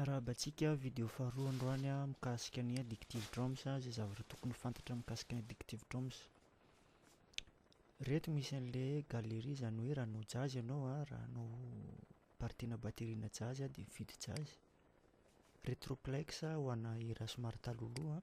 Miarahaba antsika, vidéo faharoa androany mikasika ny addictive drums, izay zavatra tokony fantatra mikasika ny addictive drums. Reto misy an'le galerie izany hoe raha hanao jazz ianao an, raha hanao partie-na batterie-na jazz dia mifidy jazz. Retroplex ho ana hira somary talohaloha.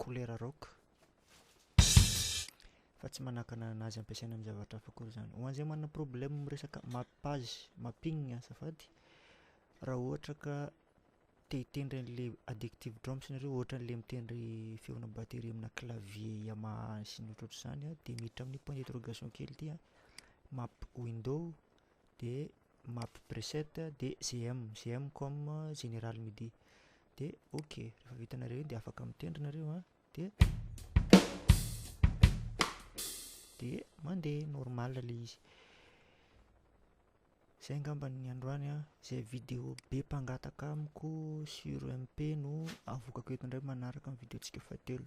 kolera rock fa tsy manakana an'azy ampiasaina amin'ny zavatra hafa akory izany. Ho an'izay manana problème amin'ny resaka mappage, mapping azafady, raha ohatra ka te hitendry an'ilay addictive drums nareo ohatra an'ilay mitendry feona batterie aminà clavier Yamaha sy ny ohatrohatr'izany a dia miditra amin'ny point d'interrogation kely ity a, map window dia map preset dia gm, gm comme général midi. de ok rehefa vitanareo iny de afaka mitendry nareo a de de mandeha normal le izy zay angamba ny androany a zay video be mpangataka amiko sur MP no avokako eto ndray manaraka ny video tsika fahatelo